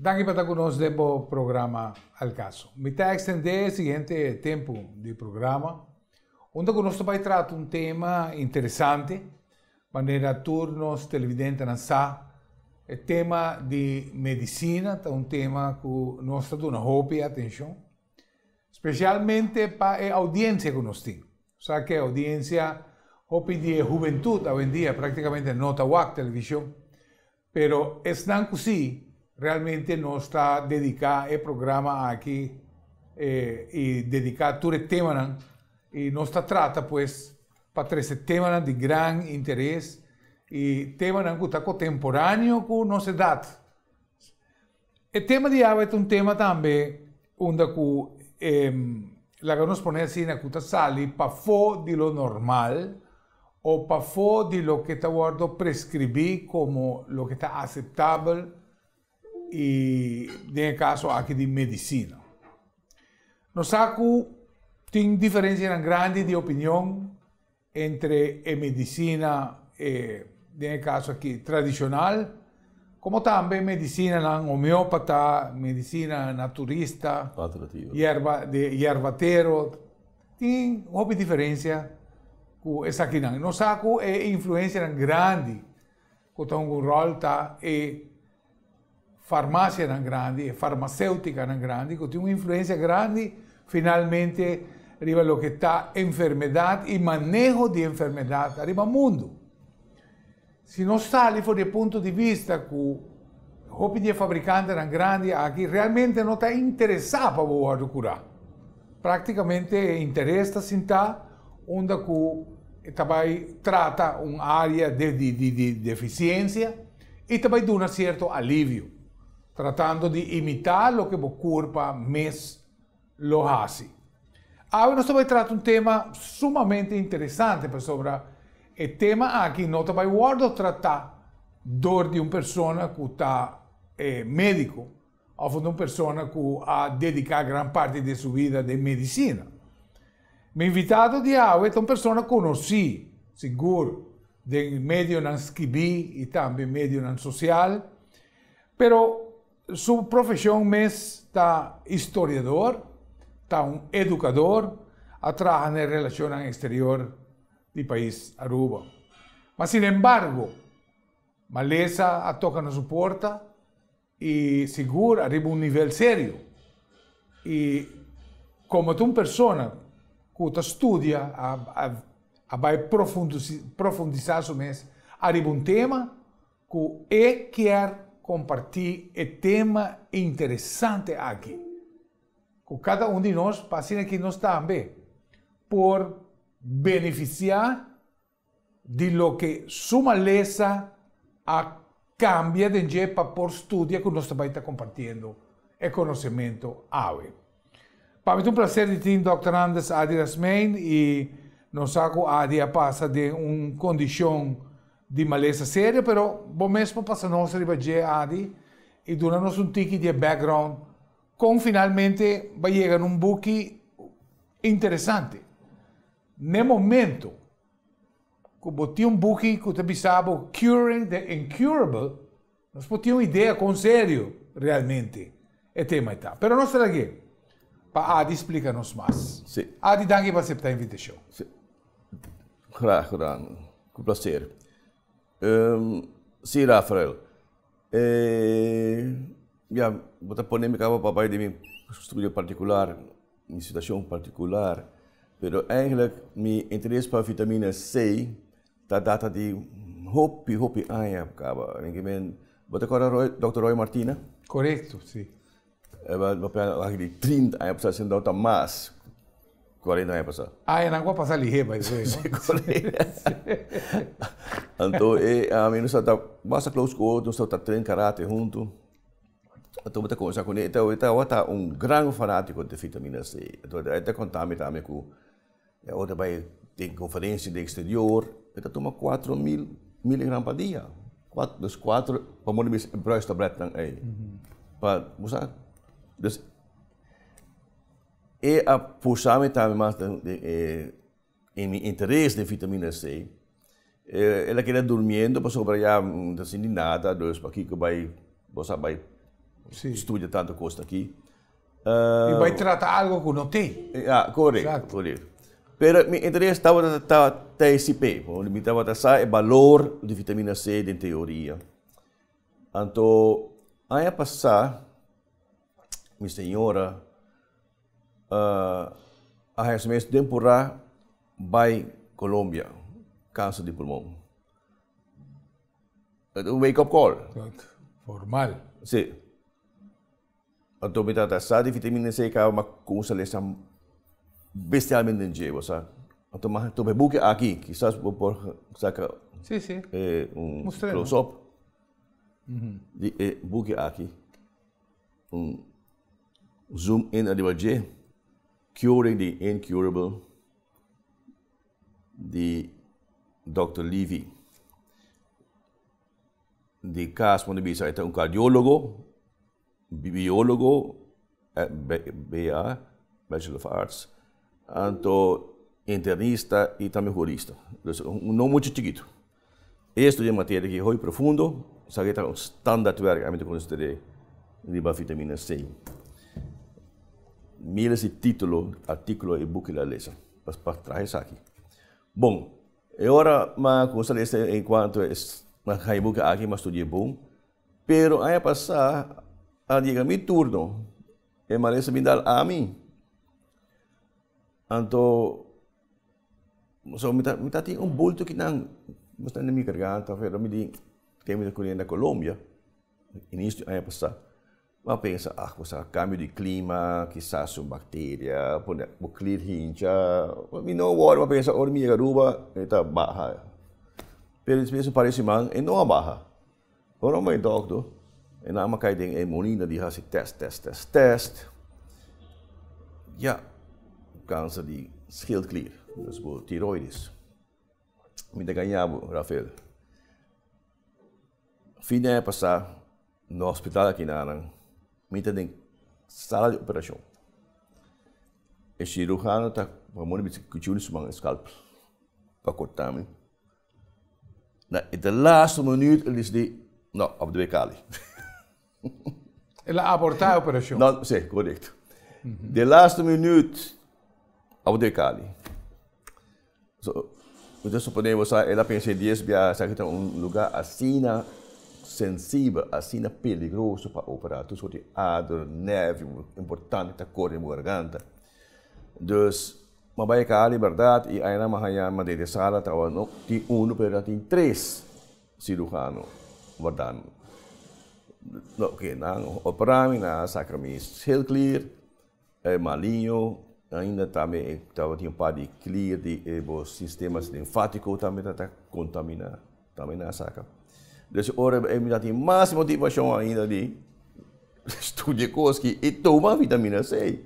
Danki pa ta ku nos den bo programa El Caso. Mi ta ekstendé e siguiente tempu di programa unda ku nos ta bai trata un tema interesante manera tur nos televidentenan sa. E tema di medisina ta un tema ku nos ta duna hopi atenshon, spesialmente pa e oudiensia ku nos tin. Bo sa ke oudiensia, hopi di e hubentut awendia praktikamente no ta wak televishon. Pero esnan cu si, realmente nos ta dedica e programa aki y dedica tur e temanan y nos ta trata pues pa trece temanan di gran interes y temanan cu ta cotemporaneo cu nos edad. E tema di awe ta un tema tambe unda ku e laga nos pone asina ku ta sali pafó di lo normal o pafó di loke ta wòrdu preskribí komo loke ta aseptabel i den e kaso aki di medisina. Nos sa ku tin diferensianan grandi di opinion. Entre e medicina e, den e caso aki, tradicional, como tambe e medicinanan homeopata, medicina naturista, yerba, de yerbatero, tin hopi diferencia cu esakinan. Nos sa cu e influencianan grandi cu ta hunga un rol ta e farmasianan grandi, e farmacéuticanan grandi, cu tin un influencia grandi finalmente riba lo que ta enfermedad y maneho di enfermedad arriba mundo. Si nos sali for di punto di vista cu hopi di e fabricantenan grandi aki realmente no ta interesa pa bo wordo cura. Prácticamente e interes ta sinta unda cu ta bay trata un área de, de, de, de deficiencia, i ta bai duna sierto alivio, tratando di imitá loke bo kurpa mes lo hasi. Awe nos ta bai trata un tema sumamente interesante pasobra e tema aki no ta bai wòrdu tratá dor di un persona ku ta e médiko, Of un persona cu a dedica gran parti den su vida den medicina. Mi invitado di awe ta un persona conoci, sigur, den medionan skibi y tambe medionan social, pero su profesion mes ta historiador, ta un educador, a traha na e relacionnan exterior di pais Aruba. Ma sin embargo, malesa a toca na su porta i sigur ariba un nivel serio i komo ta un persona ku ta studia a bai profundisá su mes ariba un tema ku e kier kompartí e tema interesante aki ku kada un di nos pa asina ki nos tambe por benefisiá di loke su malesa a cambia den dje pa por studia cu nos ta bay ta compartiendo e conocemento awe. Pa mi ta un placer di tin Dòkter Anders Ady Rasmeijn y nos sa cu Ady a pasa den un condicion di malesa serio pero bo mes por pasa nos riba dje Ady y duna nos un tiki di e background con finalmente bay yega na un buki interesante. N'e momento cu bo tin un buki cu ta bisa bo Curing the Incurable, nos por tin un idea con serio realmente e tema e ta. Pero nos ta lag'e pa Adi splica nos mas. Sí. Adi, danki pa acepta invitacion. Sí. Graag gedaan. Cu placer. Um, sí, Rafael. E ya, bo ta pone mi kaba pa bai di mi studio partikular, mi situashon partikular. Pero eigenlik mi interes pa vitamina C ta data di hopi, hopi aña kaba. Bo ta kòrda Dòkter Roy Martina? Korekto, si. E lo lo pega aki di trinta aña pasá sino ta mas kuarenta aña pasá. Añanan ku a pasá lihé bai dese no? Anto e ami nos a ta basta close ku otro, nos a ta tren karate huntu. Anto mi ta kuminsá kuné, e ta awor ta un gran fanátiko di Vitamina C. Anto e ta kontá mi tambe ku E otro bai tin conferencia den exterior, e ta tuma cuatro mil miligram pa dia. Cuatro, dus cuatro, pa moda bisa e bruis tabletnan ei. Pa, bo sa. Dus, e a pusami tambe mas den, den e, e mi interes den vitamina C. El a keda durmiendo pasobra ya no ta sinti nada, dus pakiko bai, bo sa bai studia tantu kos aki. I bai trata algo ku no tin. Ya, korek, korek. Pero mi interes tabata ta TSP, pasobra mi tabata sa e balor di vitamina C den teoria. Anto aña pasá mi señora. a heshe mes den purá bai Colombia kanser di pulmon. Ita un wake up call. Formal. Sí. Anto mi trata sa di vitamina C kaba ma con un salesa bestialmente den djeba sa. Anto mi a tup'e buki aki, kisas bo por saka un close up di e buki aki. Un zoom in ariba dje curing di incurable di Dòkter Levy. Di kas por no bisa e ta un kardiólogo, biólogo, BA, Bachelor of Arts, anto internista i tambe hurista. Pues un nom mucha chikitu. E estudia un materia ki hopi profundo, sa ke ta un standaardwerk ami ta konsider'é riba vitamina C. Mira si titulo, artíkulo e buki la lesa pa pa traha esaki. Bon, e ora m'a kuminsá lesa en kuantu e m'a haña buki aki, m'a studi'é bon, pero aña pasá al yega mi turno e malesa a bin dal ami, anto. So mi ta mi ta tin un bulto ki nan mester na mi garganta afe lo mi di tem mi ta kuriendo na Colombia inicio di aña pasa mi a pensa ah kusa cambio di clima kisas un bacteria pone bo clear hincha mi no worry mi a pensa ora mi yega Aruba e ta baha pero despues un par di siman e no a baha Ora un bay dokter, e nama kay den e molina di hasi test, test, test, test, ya! Kanser di schildklier, dus bo tiroides. Mi ta gaña bo, Rafael. Fin di aña pasá, na hospital aki na nan, mi ta den sala di operashon. E shirujano ta pone mi cuchillo na su man, scalpel, pa corta mi. Na e de laatste minuut el decidí, No, a por debe Cali. El a abortá e operashon. No, sí, korekto. De laatste minuut a por debe Cali. So, mi ta suponé bo sa, el a pensa e dies bia esaki ta un lugá asina sensibel, asina peligroso pa operá. Tur soort di ader, nervio importante ta kore den bo garganta. Dus. M'a bai ka Liberdad i aynan m'a haña Madrid e sala tawa no tin unu pero ta tin tres cirujano wardando no oke nan opera mi nan a saka mi heel clear e maliño ainda tambe e tawa tin un par di clear di e bo sistemas linfatico tambe ta ta contamina tambe nan a saka dus ora e mi ta tin mas motivacion ainda di studia cos ki i tuma vitamina c.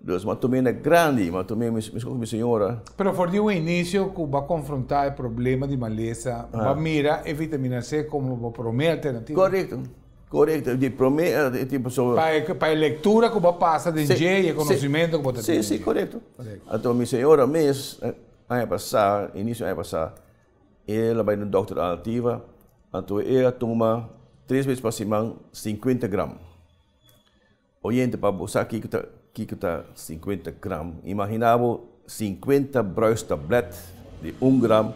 Deus m'a tuma na grandi, m'a tuma mescon cu mi señora. Pero for di un inicio cu bo a confronta e problema di malesa, bo a mira e vitamina C como bo prome alternativa? Corecto, corecto. Di prome alternativa pasobra. Pa e, pa e lectura cu bo a pasa den dje y e conocimento cu bo ta tene den dje. Si, si, corecto. Anto mi señora mes, aña pasa, inicio aña pasa, e la bay na un dokter alternativa, anto e a tuma tres bes pa siman cincuenta gram. Oyente, pa bo sa kiko ta kiko ta sinkuenta gram, imaginá bo sinkuenta bruistablet di un gram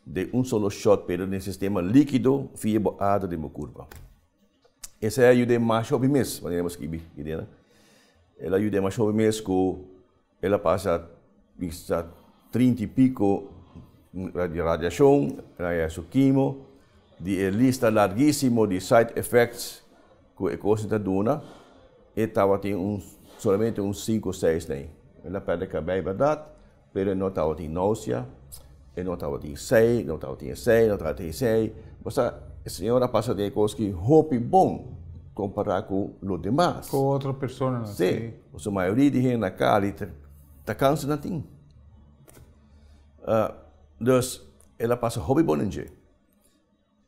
den un solo shot pero den sistema líkido via bo ader den bo kurpa. Esei a yuda e masha hopi mes, manera bo skibi, Irena. El a yuda e masha hopi mes ku. El a pasa bisa trinta i pico di radiacion, el a haya su kimo. Di e lista largisimo di side effects cu e cosnan ta duna, e tabatin un solamente un cinco seis na ey. El a perde cabey berdad, pero e no tabatin nausea. E no tabatin esei, no tabatin esei, no tabatin esei. Basta e señor a pasa den e kos ki hopi bon kompará ku lo demas. Ku otro personanan, si. Sí, pasobra mayoria di hende na Cali ta kansa na tin. Dus el a pasa hopi bon den dje.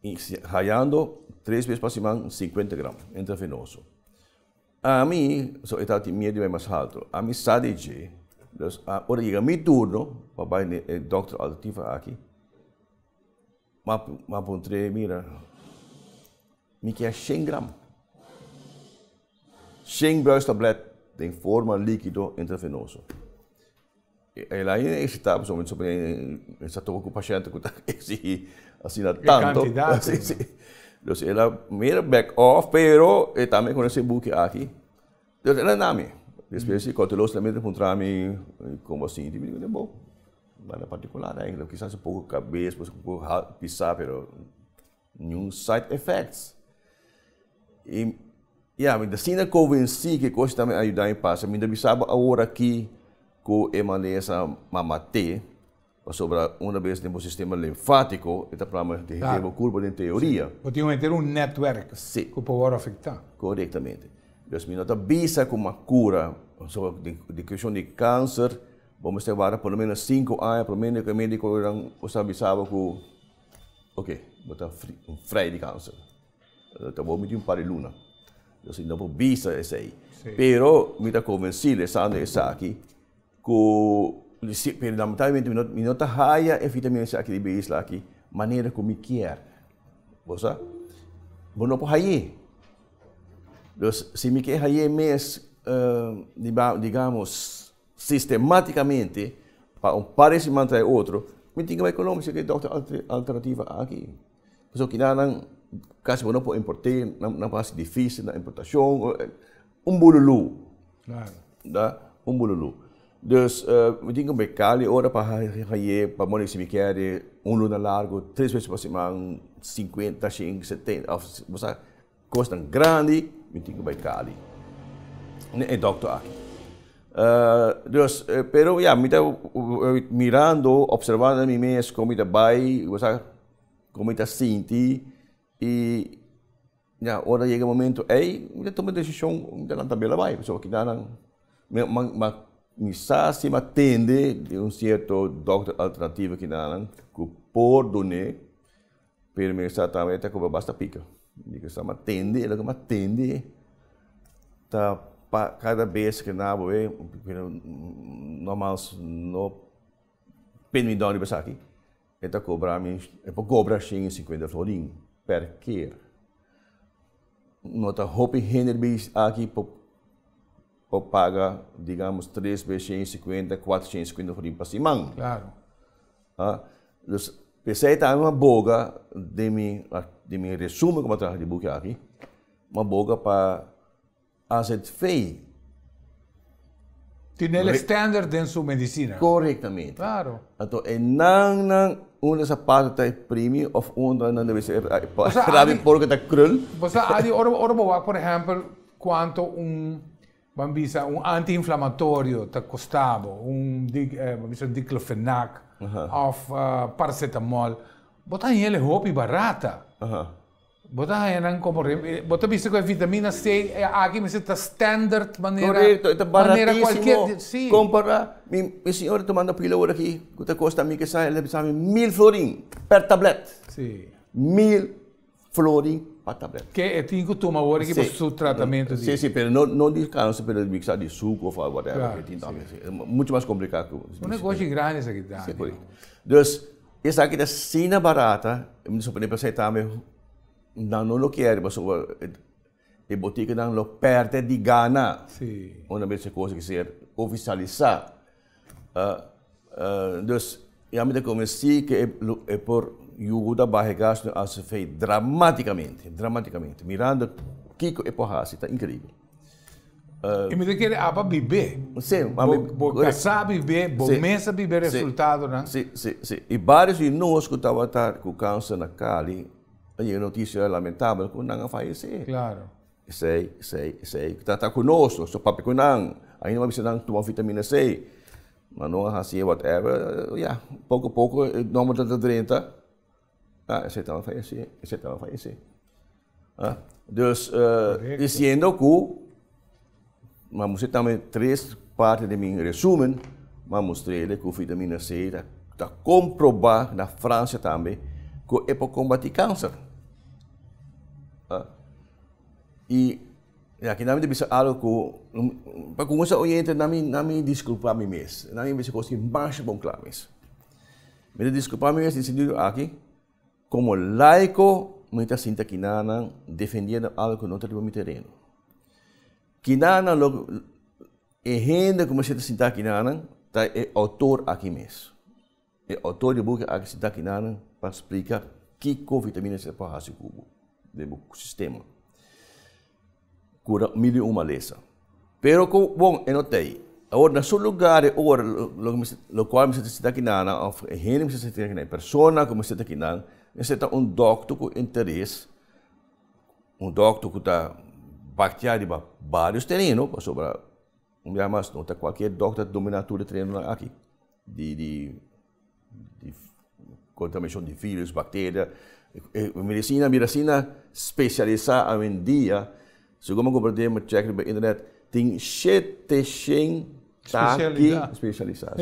I hayando tres bes pa siman, singkuenta gram, intravenoso. Ami, so e ta tin miedu di bai mas haltu, ami sa di dje. Dus ora yega mi turno pa bai den e dokter alternativo aki, m'a puntr'é, Mira, mi ke a shen gram, shen bruistablet den forma likido intravenoso. El a hende excitá pasobra su primer el sa topa cu paciente cu ta exigí asina tanto. Entonces el a mira back off pero e tambe con e sebuki aki. Entonces el a na mi. Despues di cauteloso tambe ta puntra mi como a sinti. Mi di bo, nada particular. Kisa un poco cabes, un poco pisá pero. Niun side effects. I ya, mi ta asina konvensí ku e kos ta mi ayudá mi pasa. Mi ta bisa bo awor akí ku e malesa mamat'é, pasobra unda bes den bo sistema linfátiko e ta plama di henter bo kurpo den teoria. Bo tin un henter un nètwèrk ku por wòrdu afektá. Korektamente. Entonces mi no ta bisa ku m'a kura, pasobra den keshon di kanser bo mester wak por lo meno sinku aña promedio ku e médikonan ku sa bisa bo ku. Oke, bo ta un frei di kansa. Ka bo miti un par di luna. Dor si no bo bisa esei. Pero mi ta konvensí lesando esaki ku pero lamentablemente mi no ta haya e vitaminas aki riba e isla aki manera ku mi kier. Bo sa? Bo no por hay'é. Dor si mi ke hay'é mes digamos sistemátikamente pa un par di siman trae otro, mi tin ku bai Colombia si ke dòkter alternativa aki. Pasobra kinanan kasi bo no por import'é, nan nan por hasi difísil na importashon, un bululú, ta, un bululú. Dus mi tin ku bai Cali ora pa hañ'é, pa mor di si mi kere un luna largu, tres wes pa siman, sinkuenta, shen, seten, ò bo sa. Kosnan grandi mi tin ku bai Cali ne e dokter aki. Dios, pero ya mi ta mirando, opservando na mi mes kon mi ta bai i ku sa kon mi ta sinti i ya ora ta yega momentu ei mi ta tuma desishon mi ta lanta bela bai pasobra kinanan mi sa si mi a tende di un sierto dokter alternativo kinanan ku por dun'é. Pero mi sa tambe ta cuba basta pica. Di cu sa mi a tende, e loke mi a tende ta pa cada bes cu na bo e no mas no pende mi dor riba esaki, e ta cobra mi, e por cobra shen y cincuenta florin per keer. No ta hopi hende riba aki por Bo paga digamos tres bes shen i sikuenta, kuater shen i sikuenta for di pa siman. Klaro. A dus p'esei ta mi a boga den mi den mi resumen ku mi a traha di buki aki, mi a boga pa azv. Tine el stender den su medisina. Korektamente. Klaro. Anto e nan nan unda ta sa pasa ta e primi of unda nan debe ser e rabi por ke ta krul. Bo sa Adi ora ora bo wak por ehèmpel Cuanto un, ban bisa, un anti-inflamatorio ta costabo, un, ban bisa, diclofenac of paracetamol, bo ta haña el'e hopi barata. Bo ta haña nan como, bo ta bisa cu e vitamina C, e aki mester ta standard manera, manera cualkier. Correcto, e ta baratisimo compara, mi, mi señora ta manda pila ora aki cu ta costa mi, kesa, el ta bisa mi mil florin per tablet. Si. Mil. flori pa tablet. Ke e tin ku tuma wor aki pa su tratamentu di. Si si pero no no di kansa pero di miksa di suku of whatever ke tin tambe si muchu mas komplika ku. Un negoshi grandi esaki ta. Si korekto. Dus esaki ta asina barata mi ta suponé pasobra esaki tambe nan no lo kere pasobra. E boticanan lo perde di gana. Sí. Una vez e cosa que ser oficialisa. Uh, ah, uh, ah, dus, ya me te convencí que e, e por yuda baje gas no ACV dramáticamente, dramáticamente. Mirando Kiko e por hasi, está increíble. Uh, e me te quer apa bibé. Sí, bo, bo, bo casá bibé, bo sí, mesa bibé resultado, sí, né? Sí, sí, sí. E vários de nós que estava com câncer na Cali, Oye e noticia lamentabel cu nan a fallece. Claro. Esey, esey, esey. Ta, ta cu nos, nos ta papia cu nan. Ainda nos a bisa nan tuma vitamina C. Ma nos a haci e whatever. Ya, poco poco e nomber ta ta drenta. Ah, esey tambe a fallece, esey tambe a fallece. Ah, dus, eh, diciendo cu. Ma mostra tambe tres parti di mi resumen, ma mostr'e de ku vitamina C ta komprobá na Fransia tambe ku e por kombatí kanser. I e akina mi ta bisa algu ku pa kugensá oyente na mi na mi diskulpá mi mes, na mi bisa kos ki masha bon kla mes. Mi ta diskulpá mi mes di sintido aki. Komo laiko, mi ta sinti kinanan defendiendo algo ku no ta riba mi tereno. Kinanan lo, e hende ku mi sienta sintá kinanan ta e outor aki mes. E outor di buki aki sintá kinanan pa splika kiko vitamina C por hasi ku bo den bo sistema. ku na mil i un malesa. Pero ku bon e no ta ei. Awor, na su lugar e ora lokual mester ta sinta ki nan òf e hende mester ta sinta ki nan, e persona ku mester ta ki nan mester ta un dòkter ku interes, un dòkter ku ta baktia riba barios tereno pasobra un bia mas no ta kualkier dòkter ta dominá tur e terenonan aki. di di di contaminacion di virus, bacteria, e medicina bira asina specialisa awendia, segun mi a comprende mi a check riba internet tin shete shen taki specialisa,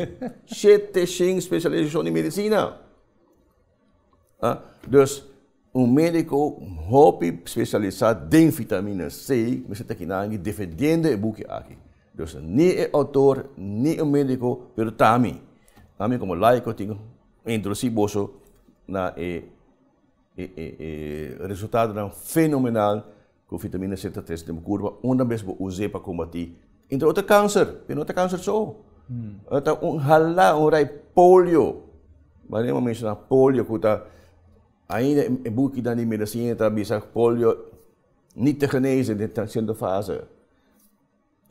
shete shen specialisacion di medicina. Dus, un médiko hopi spesialisá den fitamina C mester ta kinanki defendiendo e buki aki. Dus, ni e outor, ni un médiko, pero ta mi. Ami komo laiko tin ku introdusí boso na e e e e resultadonan fenomenal. Ku vitamina C ta tres den bo kurpa unda mes bo us'é pa kombati, entre otro, kanser. Pero no ta kanser so. E ta un halá, un rai polio. Maria a menshoná polio ku ta ainda e bukinan di medisina ta bisa polio niet te genese den ta siento fase.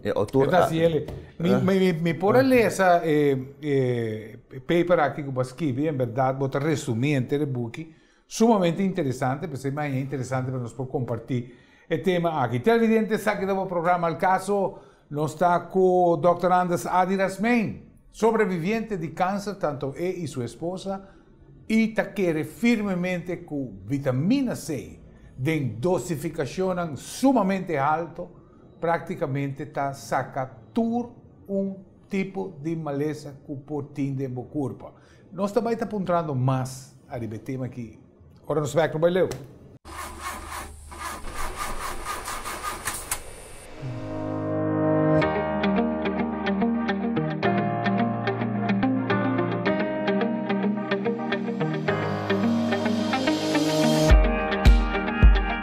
E otor Esta si el. Mi, mi, mi, mi por a lesa e, e, e paper aki ku bo a skibi. En bèrdat bo ta resumí enter e buki. Sumamente interesante, p'esei mañana interesante pa nos por kompartí e tema aki. Televidente, esaki ta bo programa Al Caso. Nos ta ku Dòkter Anders Ady Rasmijn, sobreviviente di kanser, tantu e i su esposa, i ta kere firmemente ku vitamina C den dosifikashonnan sumamente halto, Práktikamente ta saka tur un tipo di malesa ku por tin den bo kurpa. Nos ta bai ta puntrando mas ariba e tema aki ora nos bèk lo bai leu.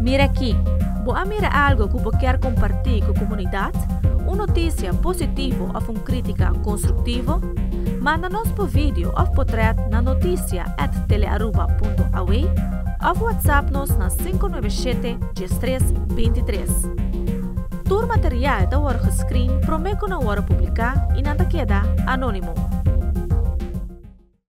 Mira aki, Bo a mira algo ku bo kier kompartí ku komunidat? Un notisia positivo òf un krítika konstruktivo? Manda nos bo video òf potrèt na notisia at Telearuba punto aw òf watsap nos na sinku nuebe shete dies tres binti tres. Tur material ta wòrdu geskrin promé ku nan wòrdu publiká i nan ta keda anónimo.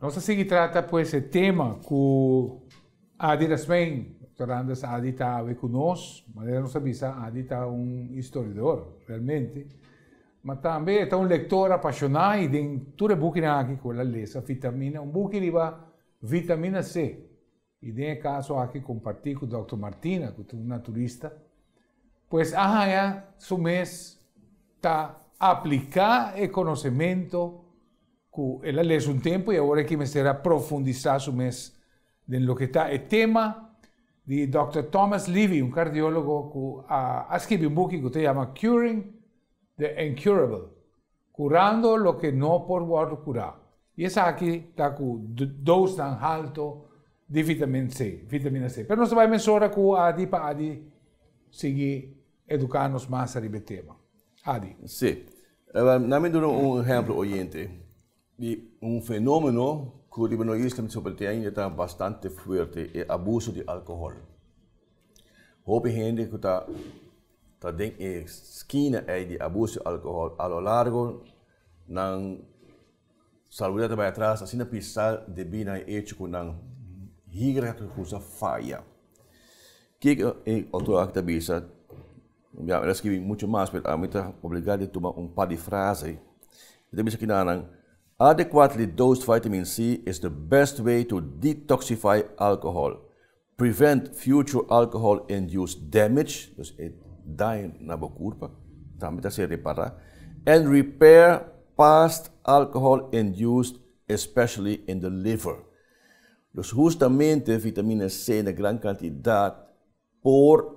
Nos a sigui trata pues e tema cu Ady Rasmijn, Doctor Anders Ady ta awe cu nos. Manera nos a bisa Ady ta un historiador realmente, ma tambe e ta un lector apashona y den tur e bukinan aki cu el a lesa, Vitamina, un buki riba Vitamina C, I den e kaso aki kompartí ku dòkter Martina, ku ta un naturista, pues a haña su mes ta apliká e konosementu ku el a lesa un tempu i awor e ke mester a profundisá su mes den loke ta e tema di dòkter Thomas Levy, un kardiólogo ku a a skibi un buki ku ta yama Curing the Incurable. Curando loke no por wordo cura. Y esaki ta cu dosnan halto di vitamin C, vitamina C. Pero nos ta bay mesora cu ADI pa ADI sigui educa nos mas ariba e tema. ADI. Sí. Na mi duna un ehemplo oyente di un fenomeno cu riba no isla Mintis Hopi ainda ta bastante fuerte, e abuso di alcohol. Hopi hende cu ta Ta den e skina ei di abuso di alkohol. A lo largo nan salubridad ta bai atras, asina pisa debí nan e echo ku nan higra ta kusa faya. Ke ku e outor aki ta bisa? Bia, el a skibi muchu mas, pero ami ta obligá di tuma un par di frase. E ta bisa kinanan, Adequately dosed vitamin C is the best way to detoxify alcohol. Prevent future alcohol-induced damage, dus e daño na bo kurpa tambe ta ser repará, and repair past alcohol-induced, especially in the liver. Dus hustamente vitamina C na gran kantidat por.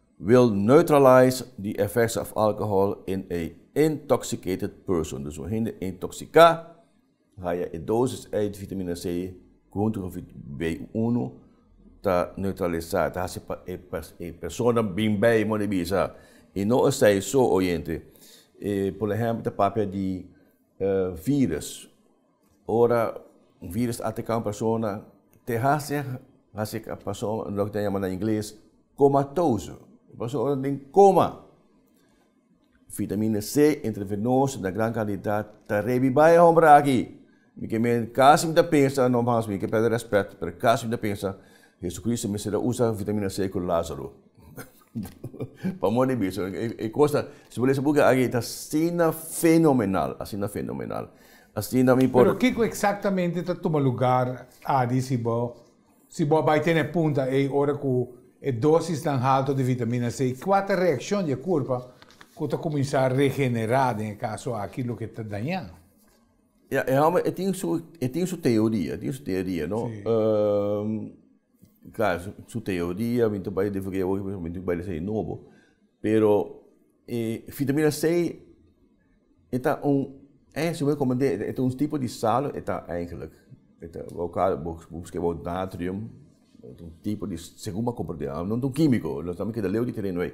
Will neutralize the effects of alcohol in a intoxicated person. Dus un hende intoxica haya e dosis ei di vitamina C hunto cu B uno ta neutralisa, ta haci pa e persona bin bay modo di bisa. Y no esai so oyente, por ehemplo ta papia di virus. Ora un virus ta ateká un persona, te hasi hasi e persona loke ta yama na ingles komatoso, e persona den koma. Vitamina C intravenoso na gran kantidat ta rebiba e hòmber aki. Mi ke mi kasi mi ta pensa, no mas mi ke pèrdè rèspèt, pero kasi mi ta pensa Hesukristu mester a usa vitamina C ku Lázaro. Pamor di biso, e kos nan, si bo lesa buki aki, ta asina fenomenal, asina fenomenal. Asina mi por. Pero kiko eksaktamente ta tuma lugar adi si bo si bo a bai tene punta ei ora ku e dosisnan halto di vitamina C? Kua ta reakshon di e kurpa ku ta kuminsá regenerá den e kaso aki loke ta dañá? Ya, e hòmber e tin su, e tin su teoria, e tin su teoria, no? Sí. Klar, su teoria mi ta bai den freguei awor, mi ta bai den esei nobo. Pero e fitamina C e ta un, eh, segun e komand'é, e ta un tipo di sal, e ta eigenlik, e ta bo kal, bo busqué bo natrium, e ta un tipo di, segun bo a komprendé, no ta un kímiko, nos tambe keda leu di tereno ei.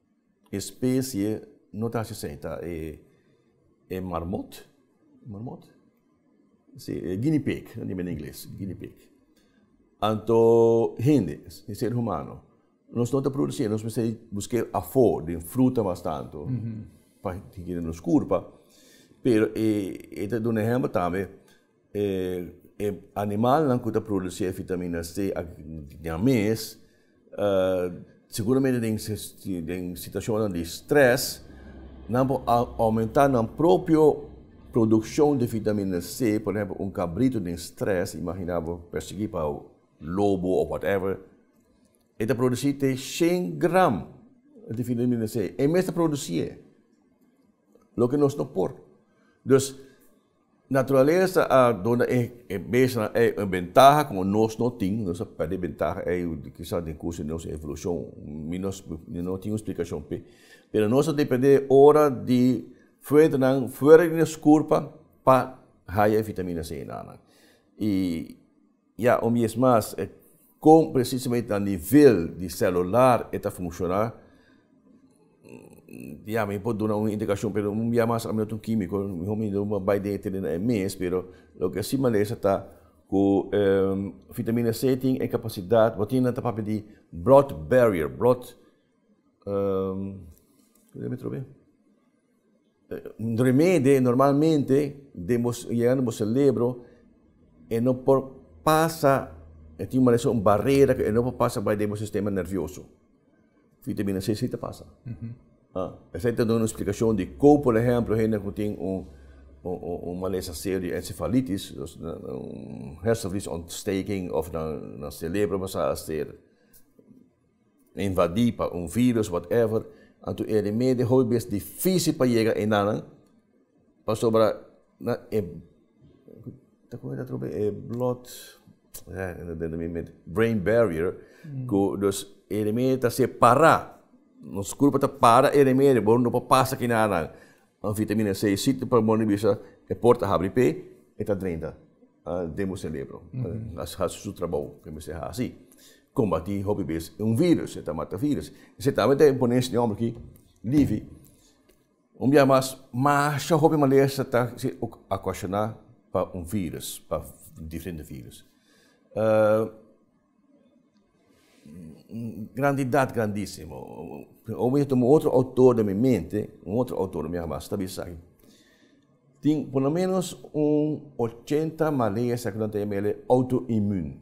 E specie no ta así esei, ta e e marmot, marmot? Sí, e guinea pig, no dimba na ingles, guinea pig. Anto hende, e ser humano, nos no ta producí, nos mester busqu'é afó den fruta mas tantu pa hikiri nos kurpa, pero e e ta duna ehèmpel tambe, E animalnan ku ta produsí e vitaminas D a ña mes, seguramente den situashonnan di strès, nan por oumentá nan propio produkshon di vitaminas D. Por ehèmpel, un kabritu den strès, imaginá bo pèrsiguí pa lobo òf whatever, e ta produsí te shen gram di vitaminas D. E mes ta produsí e, loke nos no por. Naturalesa a duna e bestianan ei un bentaha ku nos no tin. Nos a pèrdè e bentaha ei kisas den kurso di nos evolushon. Mi no mi no tin un splikashon p'e. Pero nos a dependé ora di fuentenan fuera di nos kurpa pa haya e vitamina C nannan. I. Ya un bies mas, kon presisamente na nivel di celular e ta funciona, ya mi por duna un indicacion, pero un bia mas ami no ta un quimico, miho mi lo bai den e tereno e mes, pero loke si malesa ta cu vitamina C tin e capacidad, bo tin nan ta papia di blood barrier, blood, Un remede normalmente den bo yegando bo celebro e no por pasa e tin un manera un barrera ku e no por pasa bai den bo sistema nervioso. Vitamina C si ta pasa. Esei ta duna un splikashon di kon por ehemplo hende ku tin un un malesa serio di ensefalitis un hersenvliesontsteking of nan nan celebro basha ser. invadí pa un virus whatever anto e remedio hopi bes difícil pa yega enanan pasobra nan e ta con esta otro be e blood brain barrier cu dus e remedio ta hacer pará nos culpa ta para e remedio bo no por pasa ki nada nan un vitamina c sitio pa bondi bisa e por ta habri p'e e ta drenta den bo cerebro a haci su trabou cu mester haci. Kombatí hopi bes e un vírùs, e ta mata vírùs. Esei ta tabata e ponesha di hòmber ki livi. Un biaha mas, masha hopi malesa ta okashoná pa un vírùs, pa diferente vírùs. Un grandidat grandísimo. Omo mi tuma otro outor den mi mente, un otro outor un biaha mas ta bisa, tin por lo ménos un ochenta malesa ku nan ta yam'é outo-inmun.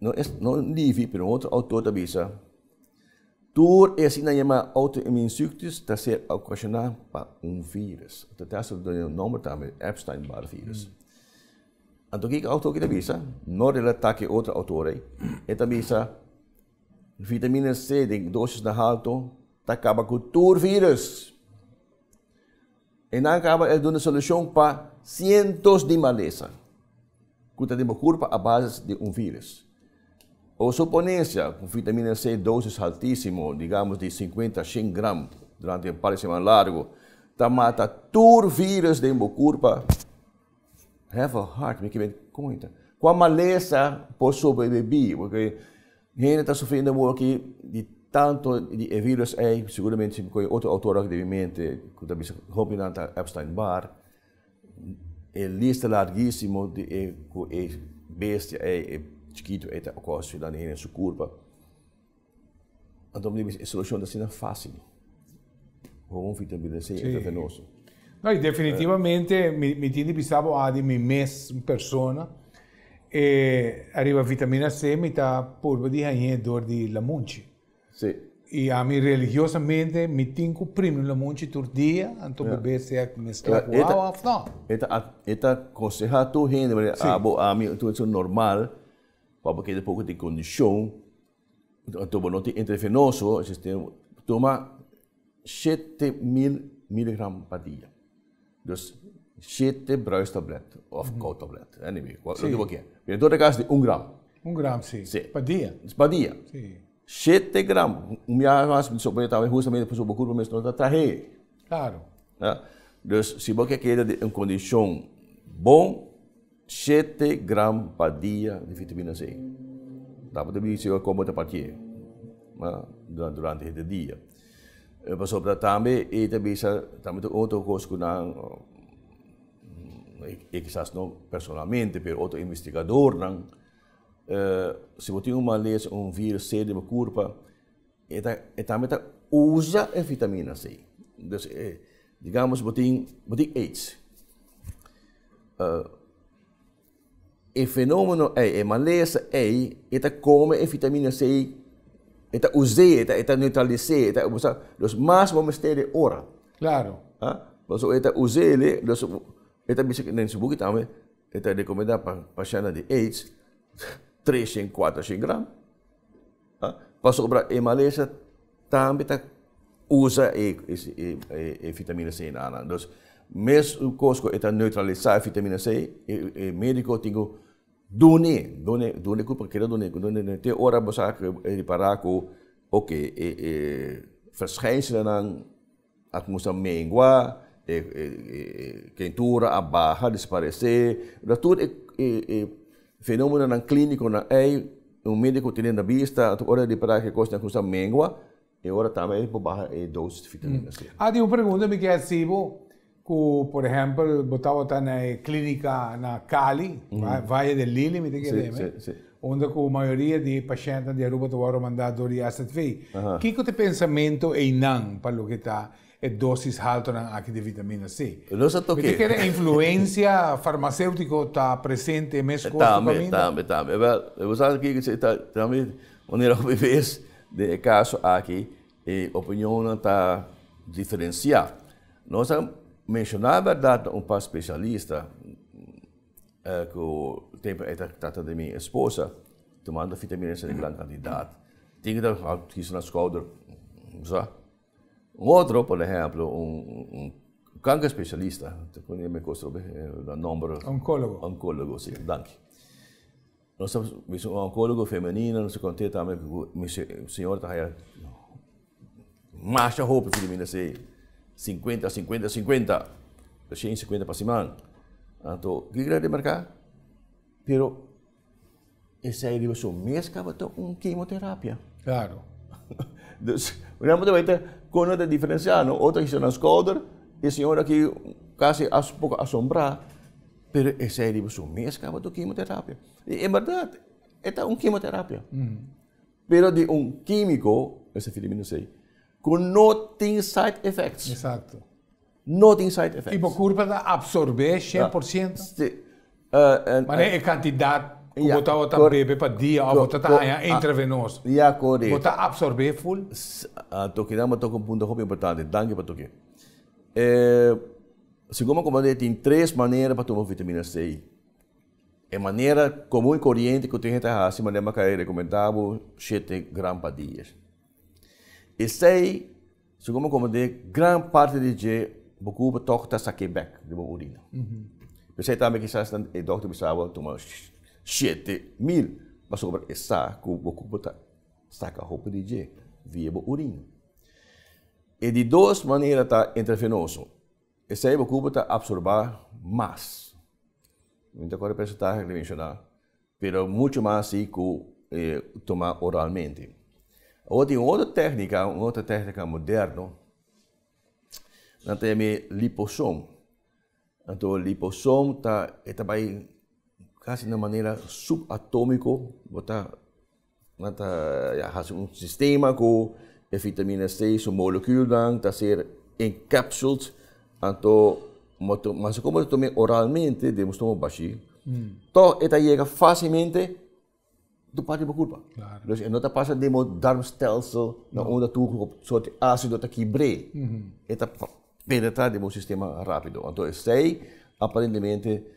No es no Livy, pero un otro autor ta bisa, Tur e asina yama auto-immuunziektes ta ser ocasiona pa un virus. Ta ta hasta duna un nomber tambe, Epstein-Barr virus. Anto kiko e autor aki ta bisa? No relata ku e otro autor ei. E ta bisa, Vitamina C den dosisnan halto ta kaba ku tur virus. E nan kaba el duna solushon pa sientos di malesa ku ta den bo kurpa a basis di un viris. O suponencia ku vitamina C dosis haltisimo, digamos di sinkuenta a shen gram durante un par di seman largu, ta mata tur viris den bo kurpa. Have a heart, mi ke bai konta kua malesa por sobreviví, porque Hende ta sufri den modo aki di tanto di e virus ei, seguramente si bo koe otro autor aki den mi mente ku ta bisa hopi di nan ta Epstein-Barr, e lista largísimo di e ku e bestia ei, e chikito ei ta okosi landi hende su kurpa. Anto bo ta bisa e solushon ta asina fásil. Houn fi tempi den sey e ta tenoso. No, y definitivamente mi, mi tin di bisa bo adi mi mes un persona e arriba vitamina C mi ta purba di hañ'é door di lamunchi. Sí. Y a mi religiosamente mi tin cu primi un lamunchi tur dia, anto yeah. bebé sea mezcla cu agua of no. Eta, eta conseja tur hende, sí. a bo, a mi, tu es normal, pa bo kede poco di condición, Anto bo no tin intravenoso, entonces tin cu tuma shete mil miligram pa dia. Dus shete bruistablet of koutablet, anyway, loke bo kier. Pero en toda cas di un gram. Un gram, si. Si. Pa dia? Pa dia. Si. Shete gram. Un mia mas bo por traha hustamente pasobra bo curpa mes no ta trahe. Claro. Nah. Dus si bo ke keda den un condicion bon. Shete gram pa dia di fitaminas E. Dapper ta bisa awor como ta pa kier durante hete dia. Pasobra tambe e ta bisa tambe ta otro cos cu nan, e kisas no personalmente pero otro investigadornan, si bo tin un malesa, un virus serio den bo curpa, E tambe ta usa e vitaminas ei. Dus e, digamos bo tin, bo tin aids. E fenomeno ei, e malesa ei, e ta come e vitaminas ei, e ta us'e, e ta neutralis'e, e ta, bo sa, dus mas bo mester e ora. Claro. A? Pasobra e ta us'e ele, dus e ta bisa, den su buki tambe e ta recomenda pa pashennan di aids, tres shen, cuater shen gram. Pasobra e malesa tambe ta usa e e fitamina C na nan. Dus mescos cu e ta neutralisa e fitamina C, e medico tin cu dun'e, dun'e, dun'e cu por keda dun'e, cu dun'e, dun'e, te ora bo sa cu e ripara cu, oke, e e verschijnselennan. A cuminsa mengua, e quentura a baha, disparece. Lo tur e fenomenonan cliniconan ey, un medico tene na bista, anto ora di para e cos a cuminsa mengua, e ora tambe e por baha e dosis di vitamina C. Aden un pregunta mi kier hasi bo, Ku por ehèmpel bo tabata na e klínika na Cali, Valle del Lili mi ta kere dje mi, unda ku mayoria di e pashèntnan di Aruba ta wòrdu mandá dor di AZV. Kiko ta e pensamentu einan pa loke ta e dósis haltonan aki di vitamina C? Mi ta kere influensia farmaséutiko ta presente mes kos ku kaminda. Tambe, tambe, tambe. Wèl, bo sa kiko ta sigi ta tambe manera hopi bes den e kaso aki e opiniónnan ta diferensiá. Nos a menshoná bèrdat un par speshalista ku tempu ei ta trata di mi esposa, tumando fitamina esei di gran kantidat. Tin ku ta kisa na skouder, bo sa. Un otro, por ehèmpel, un kanker speshalista, ta kuné mi kos trobe, da nòmber. Onkólogo. Onkólogo, si. Danki. Nos ta bisa un oncologo femenino, nos ta conte tambe cu mi señora ta haya masha hopi pasobra mi na sey cincuenta, cincuenta, cincuenta, ta shen cincuenta pa siman. Anto kiko tin di marca? Pero esey riba su mes tabata un kemoterapia. Claro. Dus nan por weten con nan ta diferencia, no otro a hisa nan scouder, e señora aki casi a poco asombrá. Pero esei riba su mes kaba tur kimoterapia. I e bèrdat, e ta un kimoterapia. Pero di un kímiko, esei Filipino a sei, ku no tin side effects. Eksakto. No tin side effects. I bo kurpa ta apsorbé shen por siento? Sí. Manera e kantidat ku bo tabata bebe pa dia òf bo tabata haña intravenoso. Ya, korekto. Bo ta apsorbé ful? Tokinan bo toka un punto hopi importante. Danki pa toki. Segun bo komand'é tin tres manera pa tuma vitamina C. E manera komun i koriente ku tin hende ta hasi manera bo a kai rekomendá bo shete gram pa dia. Esei segun bo komand'é gran parte di dje bo kupa tòg ta sak'é bèk di bo orina. P'esei tambe kisas e dòkter a bisa bo tuma shete mil pasobra e sa ku bo kupa ta saka hopi di dje via bo orina. E di dos manera ta intravenoso. Esei bo cupo ta absorba mas, mi ta cor e percentahe cu mi menciona, pero mucho mas asi cu toma oralmente. Awor tin un otro tehnica, un otro tehnica moderno, nan ta yam'e liposom. Anto liposom ta e ta bay casi na manera subatomico, bo ta. Nan ta hasi un sistema ku e vitamina C su molekuulnan ta ser encapsuled, anto mas e komo ta tuma oralmente den bo stomak bashí, tòg e ta yega fasilmente tur parti bo kurpa. Pues e no ta pasa den bo darmstelsel na unda tur sòrti asido ta kibr'é. E ta penetrá den bo sistema rápido. Anto esei aparentemente.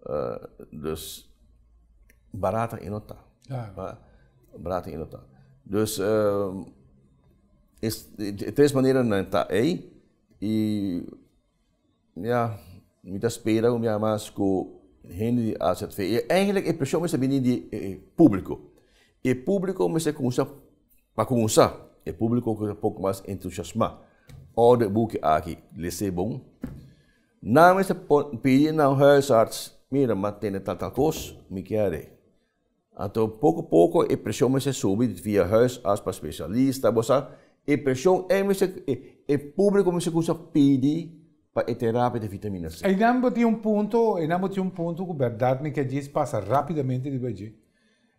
Uh, dus barata i no ta. Claro. Uh, barata i no ta. Dus uh, is, tres manera na ta ei i ja, mi ta spera mi mas ku hende di AZV. I eigenlijk e presión mester bini di e público. E público mester kuminsá pa kuminsá, e público ku ta poko mas entusiasmá. Order buki aki, lese bon. Nan mester pidi nan huisarts, Mira, m'a tene tal tal kos, mi ke a rei. Anto poko poko e preshon mester subi via huisarts pa spesialista, bo sa. E preshon ei mester, e públiko mester kuminsá pidi pa e terapia di vitamina C. Einan bo tin un punto, einan bo tin un punto ku bèrdat mi ke djis pasa rápidamente riba dje.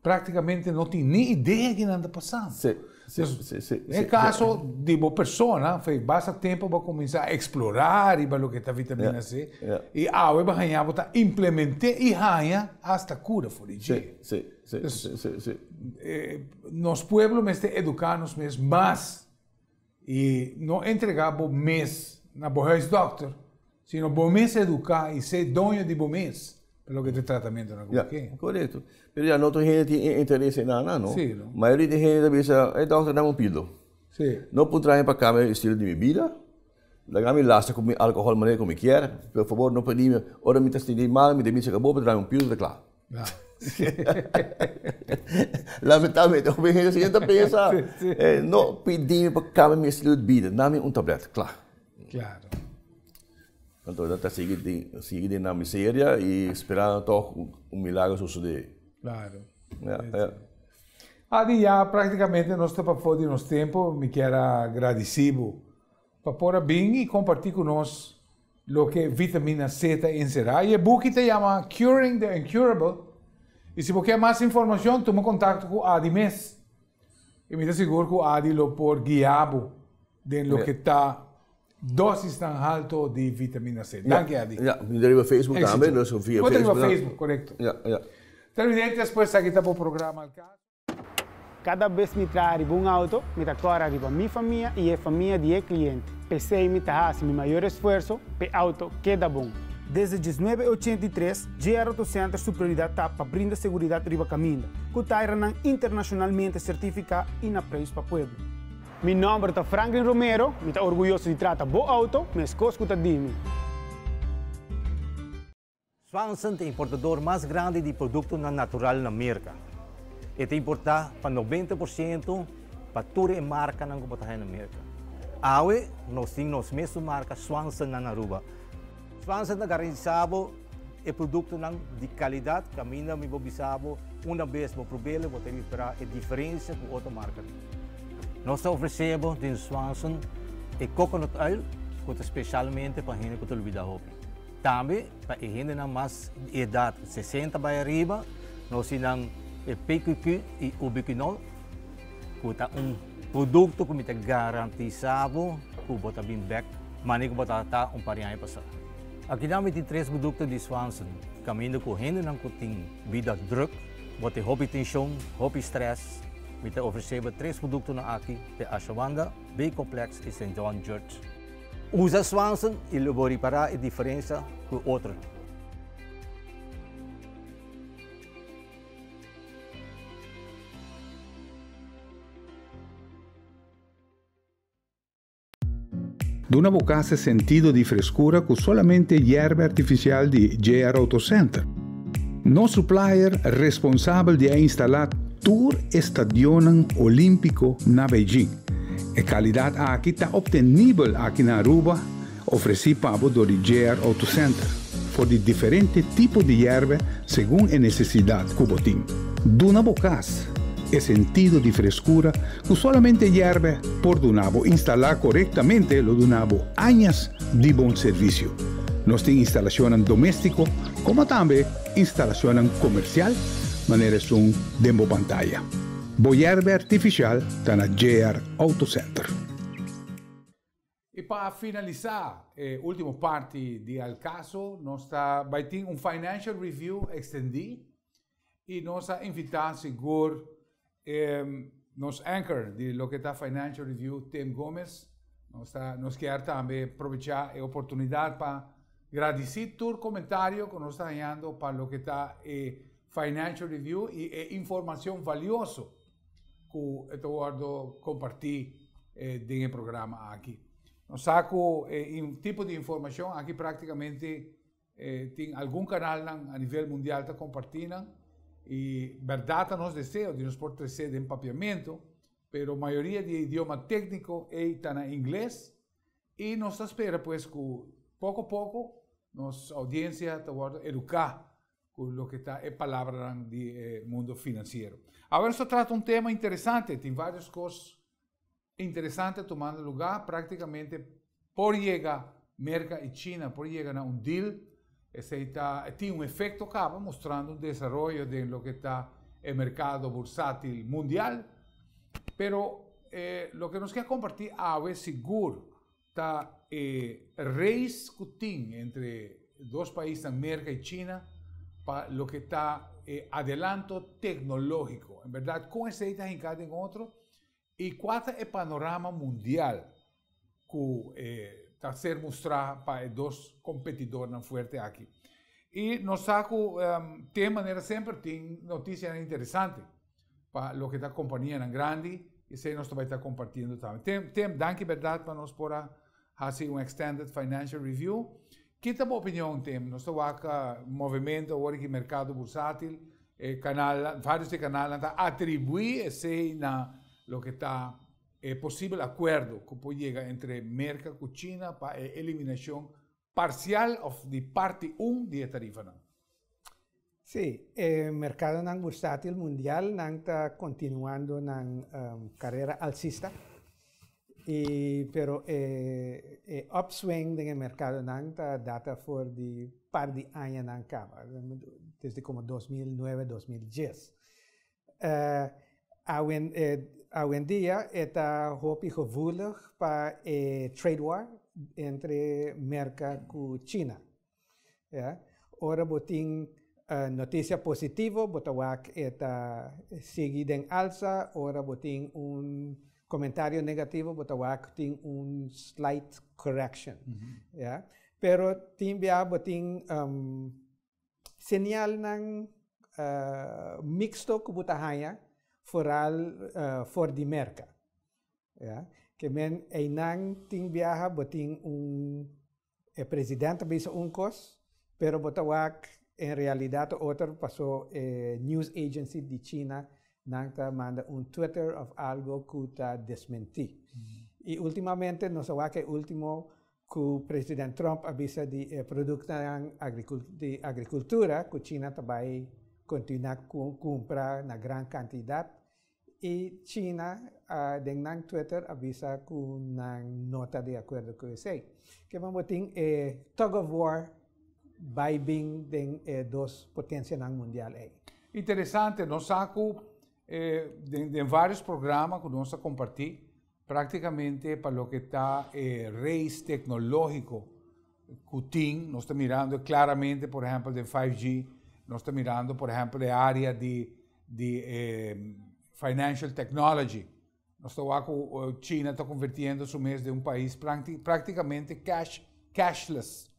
Práktikamente no tin ni idea kinan ta pasá. Sí, sí, sí, sí. E kaso di bo persona, fei, basta tempu bo a kuminsá a eksplorá riba loke ta vitamina C i awe bo haña bo ta implement'é i haña asta kura for di dje. Sí, sí, sí, sí, sí. Nos pueblo mester eduká nos mes mas. I no entrega bo mes na bo huisdokter, sino bo mes eduka i se doño di bo mes pa loke ta tratamentu na kual ke. Korekto. Pero ya no tur hende tin e interes ei nan nan no. Si, no. Mayoria di hende ta bisa, Ei dokter dame un pildo. Si. No por traha mi pa kambia e estilo di mi bida, laga mi lasa ku mi alkohòl manera ku mi kier, por fabor no pedimi, ora mi ta sintí mal mi debí cheka bo pa trami un pildo ta kla. Lamentablemente hopi hende asina ta pensa, no pidi mi pa kambia mi estilo di bida, dame un tablet, kla. Anto nan ta sigui sigui den nan miseria i spera anto un milagro sosode. Adi ya praktikamente nos ta pafo di nos tempu, mi kier a gradisi bo Pa por a bin i kompartí ku nos loke vitamina C ta enserá. E buki ta yama Curing the Uncurable i si bo ke mas informashon tuma kontakto ku Ady mes i mi ta sigur ku Ady lo por guia bo den loke ta dosisnan halto di vitamina C. Danki Ady. Ya, mi ta riba Facebook tambe, nos via Facebook. Bo ta riba Facebook, korekto. Ya, ya. Televidente, despues aki ta bo programa Al Caso. Kada bes mi traha riba un auto, mi ta kora riba mi famia i e famia di e kliente. P'esei mi ta hasi mi mayor esfuerso pa e auto keda bon. Desde diesnuebe e ochenta i tres, JR Auto Center su prioridat ta pa brinda seguridat riba kaminda, ku tairanan internashonalmente sertifiká i na preis pa pueblo. Mi nòmber ta Franklin Romero, mi ta orguyoso di trata bo auto, meskos ku ta di mi. Swanson ta importador mas grandi di produktonan natural na Merka. E ta importá pa nobenta por siento pa tur e markanan ku por ta haya na Merka. Awe nos tin nos mes su marka Swanson nan na Aruba. Swanson ta garantisá bo e produktonan di kalidat kaminda mi bo bisa bo unda bes bo prob'el bo ta repará e diferensia ku otro markanan. Nos ta ofresé bo den Swanson e coconut oil ku ta spesialmente pa hende ku ta olbidá hopi. Tambe pa e hendenan mas di edat sesenta bai ariba, nan osi nan e PQQ i Ubiquinol, ku ta un produkto ku mi ta garantisá bo ku bo ta bin bèk manera ku bo ta ta un par di aña pasá. Akinan mi tin tres produkto di Swanson, kaminda ku hendenan ku tin bida drùk, bo tin hopi tenshon, hopi strès, mi ta ofresé bo tres produktonan aki te Ashawanda, B-Complex i St. John Jurt. Usa Swanson y lo bo ripara e diferencia cu e otro. Duna bo casa e sentido di frescura cu solamente yerba artificial di JR Auto Center. Nos supplier responsabel di a instala tur e stadionnan Olímpiko na Beijing. E kalidat aki ta optenibel aki na Aruba, ofresí pa bo dor di JR Auto Center, for di diferente tipo di yèrbè segun e nesesidat ku bo tin. Duna bo kas e sentido di freskura ku solamente yèrbè por duna bo. Instalá korektamente lo duna bo añas di bon servisio. Nos tin instalashonnan doméstiko, komo tambe instalashonnan komersial manera esun den bo pantaya. Bo yèrbe artifishal ta na JR Auto Center. I pa finalisá e último parti di El Caso, nos ta bai tin un financial review ekstendí. I nos a invitá sigur e nos anchor di loke ta Financial Review, Tim Gomez. Nos ta nos kier tambe probechá e oportunidat pa gradisí tur komentario ku nos ta hañando pa loke ta e Financial Review i e informashon valioso ku e ta wòrdu kompartí den e programa aki. Nos sa ku e tipo di informashon aki praktikamente Eh, tin algun kanalnan a nivel mundial ta kompartí nan, i bèrdat ta nos deseo di nos por tresé den papiamentu, pero mayoria di e idioma tékniko ei ta na ingles, i nos ta spera pues ku poko poko nos oudiensia ta wòrdu eduká ku loke ta e palabranan di e mundo finansiero. Awe nos ta trata un tema interesante, tin vários kos interesante tomando lugá, práktikamente por yega Merka i China por yega na un deal, esei ta e tin un efekto kaba mostrando un desaroyo den loke ta e merkado bursátil mundial. Pero loke nos ke a kompartí awe sigur ta e reis ku tin entre e dos paisnan Merka i China pa loke ta e adelanto teknológiko. En bèrdat kon esei ta hinká den otro I kua ta e panorama mundial ku e ta ser mustrá pa e dos kompetidornan fuerte aki. I nos sa ku te manera semper tin notisianan interesante pa loke ta kompanianan grandi, esei nos ta bai ta kompartiendo tambe. Tim, danki bèrdat pa nos por a hasi un extended financial review. Ki ta bo opinion tem? Nos ta wak movemento awor di merkado bursatil, e kanal, varios di e kanalnan ta atribuí esei na loke ta e posibel akuerdo ku por yega entre Merka ku China pa e eliminashon parsial òf di parti un di e tarifanan. Sí, e merkadonan bursátil mundial nan ta kontinuando nan karera alsista, i pero e e opswing den e merkadonan ta data for di par di añanan kaba, desde komo dos mil nuebe, dos mil dies. Awendia e ta hopi gevoelig pa e trade war entre Merka ku China. Ya. Ora bo tin noticia positivo bo ta wak e ta sigui den alza, ora bo tin un comentario negativo bo ta wak tin un slight correction. Ya. Pero tin bia bo tin señalnan mixto cu bo ta haya foral for di Merca. Ya. Ke men einan tin biaha bo tin un E president ta bisa un kos pero bo ta wak en realidad otro paso e news agency di china nan ta manda un twitter of algo cu ta desmenti y ultimamente nos a wak e ultimo cu president trump a bisa di e productonan di agricultura cu china ta bay continua cu cumpra na gran cantidad I China den nan Twitter a bisa ku nan no ta di akuerdo ku esei. Kieman bo tin e tug of war bai bin den e dos potensianan mundial ei? Interesante, nos sa ku den varios programa ku nos a kompartí Práktikamente pa loke ta e reis teknológiko ku tin, nos ta mirando klaramente por ehèmpel den 5G, nos ta mirando por ehèmpel e área di di e financial technology. Nos ta wak ku China ta konvertiendo su mes den un pais práktikamente cash cashless.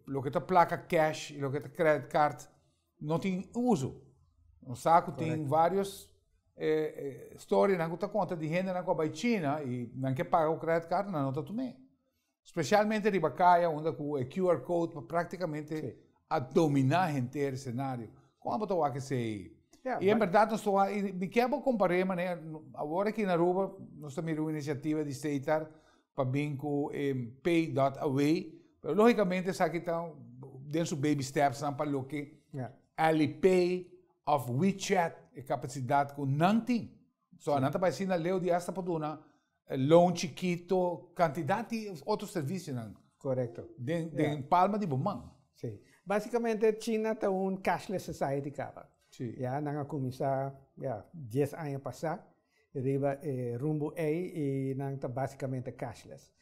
Loke ta plaka cash i loke ta credit card No tin uso. Nos sa cu tin varios storynan cu ta conta di hendenan cu a bay China y nan ke paga cu credit card, nan no ta tun'e. Specialmente riba caya unda cu e QR code ta practicamente a domina henter e scenario. Coma bo ta wak esey? Y en berdad nos ta wak, y mi kier bo compare manera, awor aki na Aruba nos ta mira un iniciativa di Statear pa bin ku e pay dot away, pero lógikamente esaki ta den su baby stepsnan pa loke Alipay òf WeChat e kapasidat ku nan tin. So nan ta bai si na Leo dias ta por duna loan chikito, kantidat di otro servisionan. Korekto. Den den palma di bo man. Si. Basikamente China ta un cashless society kaba. Si. Ya nan a kuminsá ya dies aña pasá. riba e rumbo ei y nan ta basicamente cashless.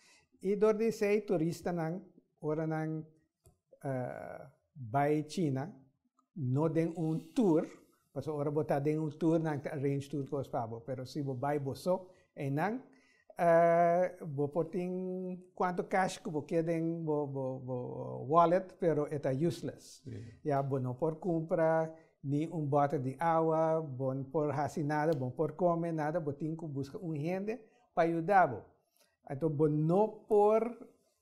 Y door di esey turistanan ora nan bay China no den un tour, pasobra ora bo ta den un tour nan ta arrange tur cos pa bo, pero si bo bay boso, eynan bo por tin cuanto cash cu bo kier den bo wallet pero e ta useless ya bo no por cumpra ni un bottle di awa bo no por haci nada bo no por come nada bo tin cu busca un hende pa yuda bo enton bo no por.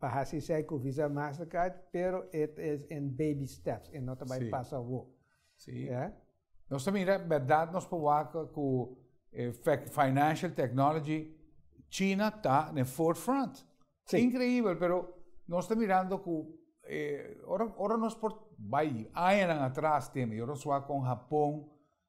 pa hasi esei ku Visa Mastercard pero et is in baby steps e no ta bai pas awo. Si. Ya. Nos ta mira berdad nos por wak ku e financial technology China ta den fourth front. Si. Increibel pero nos ta mirando ku e ora nos por bai añanan atras tema y ora nos wak kon Japon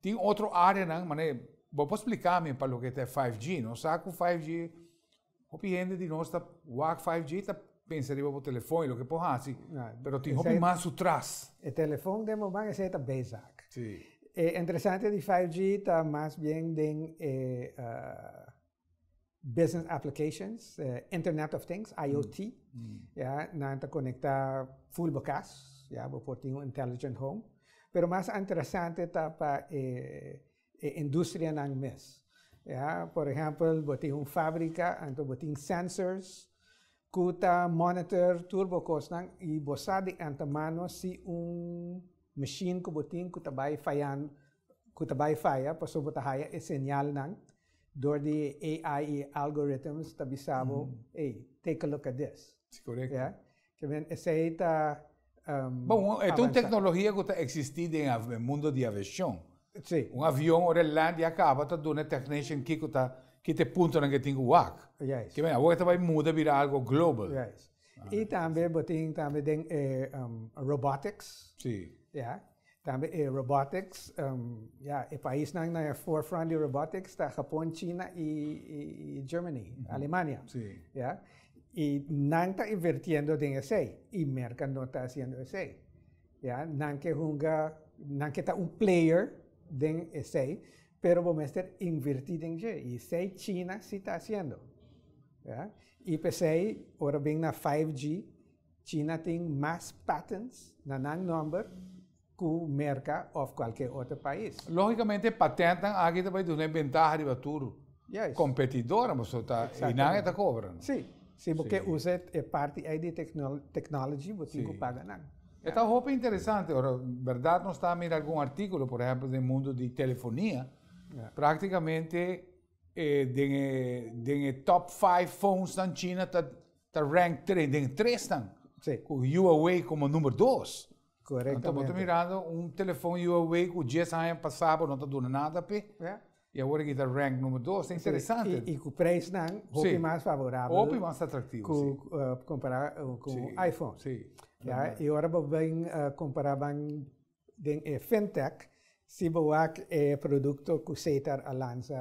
tin otro areanan, mane, bo por spliká mi pa loke ta e five G? Nos sa ku five G, hopi hende di nos ta wak five G ta pensa riba bo telefòn i loke por hasi, pero tin hopi mas su tras. E telefòn den moman esei ta bezak. Si. E interesante di five G ta mas bien den e. business applications, eh, Internet of Things, IoT, mm. mm. ya, na ta conecta full bocas, ya, bo por un intelligent home. Pero mas interessante ta pa eh, eh, industria nan mes. Ya, por exemplo, bo tin un fábrica, anto bo tin sensors, kuta monitor turbo kosnan i bo sa di antemano si un machine ku bo tin ku ta bai fallando cu ta bay faya paso bo ta haya e señalnan door di e AI y algorithms ta bisa bo hey take a look at this. Si correcto. Ya ta bien esey ta avanza. Esta un tecnologia cu ta existi den e mundo di aviacion. Si. Un avion ora e land y a caba ta duna e technician kico ta kita e puntonan ke tin cu wak. Juist. Ke men awor ta bay muda bira algo global. Juist. Y tambe bo tin tambe den e robotics. Si. Ya Tambe e robotics, ya, e paisnan na e forefront di robotics ta Japon, China y Germany, Alemania, ya. Y nan ta invirtiendo den esey y Merca no ta haciendo esey, ya. Nan ke hunga, nan ke ta un player den esey, pero bo mester invirti den dje y esey China si ta haciendo, ya. Y p'esey ora bin na 5G, China tin mas patents na nan nomber ku Merka of kualke otro pais. Logicamente e patentnan aki ta bay dun'e bentaha riba tur kompetidornan paso ta e nan e ta kobra no. Si, si bo ke usa e parti ay di e technology bo tin ku paga nan. E ta hopi interesante ora berdad nos ta mira algun artikulo por ehempel den mundo di telefonia praktikamente den e den e top five phonesnan China ta. Ta rank tre, den e tresnan. Sí. Ku Huawei komo number dos. Korektamente. Anto bo ta mirando un telefòn Huawei ku dies aña pasá bo no ta duna nada p'e. Ja. I awor aki ta rank number dos. Ta interesante. Sí. I ku preisnan hopi mas favorabel. Hopi mas atraktivo, si. Ku kompará ku un iPhone. Sí. Si. Ja. I ora bo bin kompará ban. den e fintech si bo wak e produkto ku Setar a lansa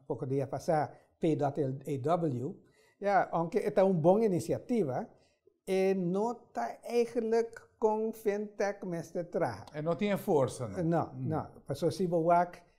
poko dia pasá PWAW, ya, ounke e ta un bon inisiativa, e no ta eigelik kon fintech mester traha. E no tin e forsa no. No, no. Paso si bo wak.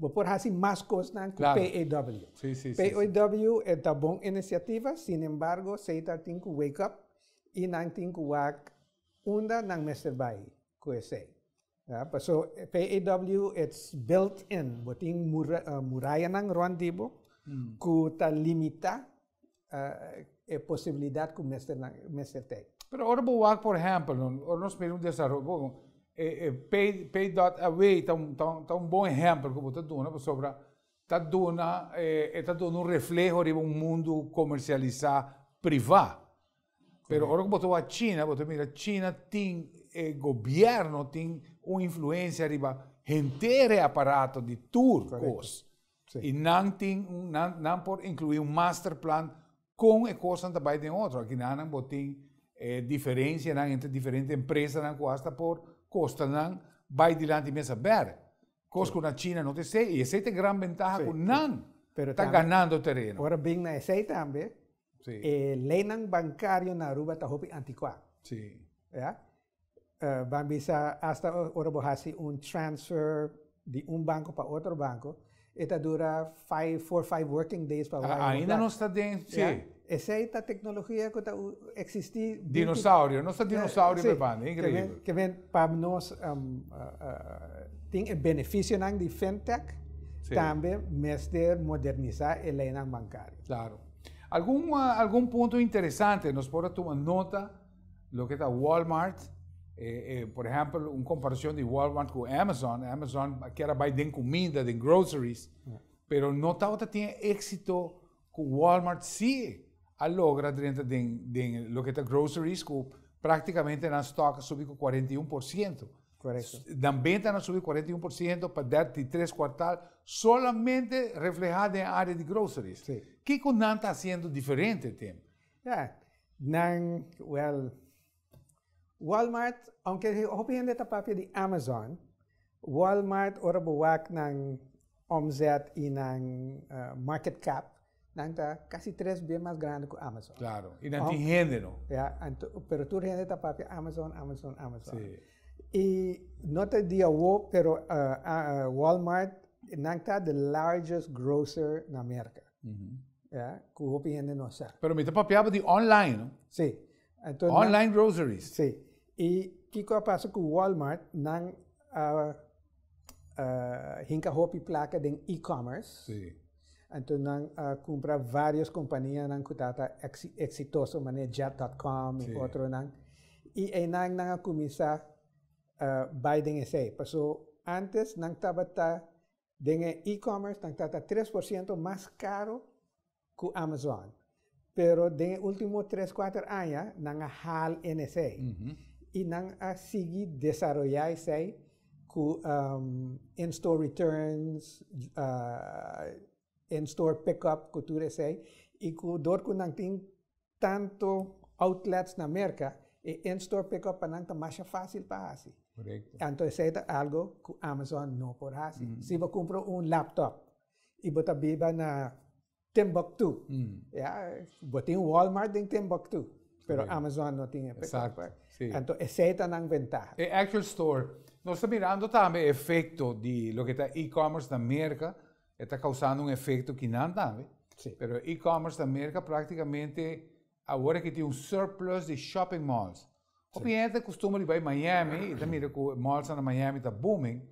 Bo por hasi mas kosnan ku PAW. PAW e ta bon inisiativa, sin embargo Seitar tin ku wake up i nan tin ku wak unda nan mester bai ku esei. Paso PAW it's built in, bo tin murayanan rònt di bo ku ta limitá. e posibilidat ku mester nan mester tei. Pero ora bo wak por ehempel no ora nos mira un desaroyo bo e pay pay dot away ta un ta un bon ehempel ku bo ta duna pasobra ta duna e ta duna un refleho riba un mundu komersialisa priva pero ora ku bo ta wak china bo ta mira china tin e gobièrnu tin un influensia riba henter e aparato di tur kos. Sí. Y nan tin, nan, nan por incluir un masterplan con e cosnan ta bay den otro. Aquí nan bo tin eh, diferencia nan entre diferente empresa nan cu hasta por costa nan bay dilanti mesa ber. Cos cu na China no te se, y ese te gran ventaja cu nan Pero ta ganando terreno. Ora bin na esey tambe, e leynan bancario na Aruba ta hopi antiqua. Sí. Ya. ban bisa hasta ora bo hasi un transfer di un banco pa otro banco e ta dura five, four, five working days pa wire un Ainda nos ta den, si. Ya. Esey ta tecnologia cu ta existi. Dinosaurio, nos ta dinosaurio pe banda, increíbel. Si, kimen pa nos tin e beneficionan di fintech, tambe mester moderniza e leynan bancario. Claro. Algun, algun punto interesante nos por a tuma nota. Lo ke ta Walmart, por ehèmpel un komparashon di Walmart ku Amazon, Amazon a kier a bai den kumida, den groceries, pero no tabata tin e éksito ku Walmart si a logra drenta den lo ke ta groceries ku praktikamente nan stòk a subi ku kuarenta i un por siento. Korekto. Nan bentanan subi kuarenta i un por siento pa dèrt di tres kuartal solamente reflehá den área di groceries. Si. Kiko nan ta hasiendo diferente tem? Ya nan wèl Walmart aunke hopi hende ta papia di Amazon, Walmart ora bo wak nan òmzèt i nan market cap nan ta kasi tres bia mas grandi ku Amazon. Klaro, i nan tin hende no. Ya, pero tur hende ta papia Amazon, Amazon, Amazon. Si. I no ta di awo pero Walmart nan ta di largest grocer na Merka. Ya, cu hopi hende no a sa. Pero mi ta papiaba di online, no? Sí. Enton, online groceries. Sí. Y kico a pasa cu Walmart? Nan a hinca hopi placa den e-commerce. Sí. Enton nan a cumpra varios companianan cu tata exitoso, mane Jet.com y otronan. Y einan nan a cuminsa bai den esey. Paso antes nan tabata den e e-commerce nan ta ta tres por ciento mas caro cu Amazon pero den e ultimo tres cuater aña nan a haal enesey y nan a sigui desaroya esey cu in store returns in store pick up cu tur esey y cu dor cu nan tin tanto outlets na Merca, e in-store pick-up pa nan ta masha fácil pa hasi. Correcto. Anto esei ta algo cu Amazon no por hasi. Si bo cumpra un laptop y bo ta biba na Timbuktu, ya, bo tin Walmart den Timbuktu, pero Amazon no tin e pick-up. Exacto, si. Anto esei ta nan ventaha. E actual store, nos ta mirando tambe e efecto di loke ta e-commerce na Merca. E ta causando un efecto ki nan tambe. Sí. Pero e-commerce ta merca practicamente awor ki tin un surplus di shopping malls. Hopi hende ta costumber di bay Miami y ta mira cu e malls na Miami ta booming,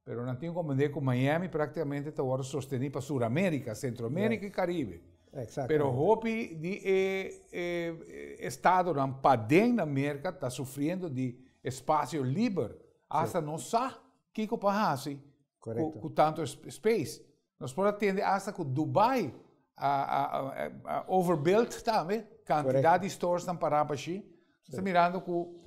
pero nan tin comprende cu Miami practicamente ta worde sosteni pa Suramerica, Centroamerica y Caribe. Exactamente. Pero hopi di e estadonan paden na merca ta sufriendo di espacio liber hasta no sa kico pa haci Correcto. Cu, cu tanto space. Nos por atende hasta cu Dubai a, a, a, a overbuilt tambe. Cantidad di stores tan pará pa shi. Está mirando cu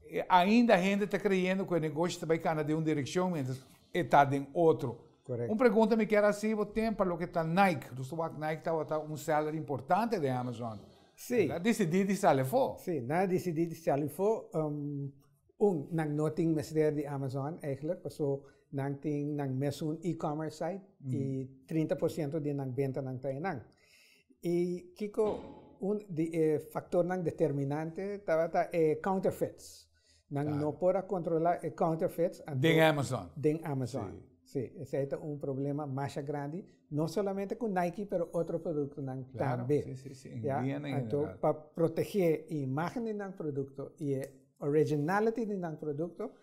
eh, ainda gente está creyendo que el negocio está cana de un dirección mientras está den otro. Correcto. Un pregunta me quiero hacer, vos tem para lo que está Nike. Dus wak Nike está wata un seller importante de Amazon. Sí. Está decidí de salir fo. Sí, na decidí de salir fo. Um, Un, nan no tin mester di Amazon eigelijk, paso nan tin nan mesun e-commerce site y trinta por ciento di nan bentanan ta einan. Y kico un di e factornan determinante tabata e counterfeits. Nan no por a controla e counterfeits anto. Den Amazon. Den Amazon. Si. Sí, esei ta un problema masha grandi, no solamente ku Nike pero otro produktonan tambe. Claro, sí, sí, sí. Ya, anto pa protegé e imágen di nan produkto i e originality di nan produkto,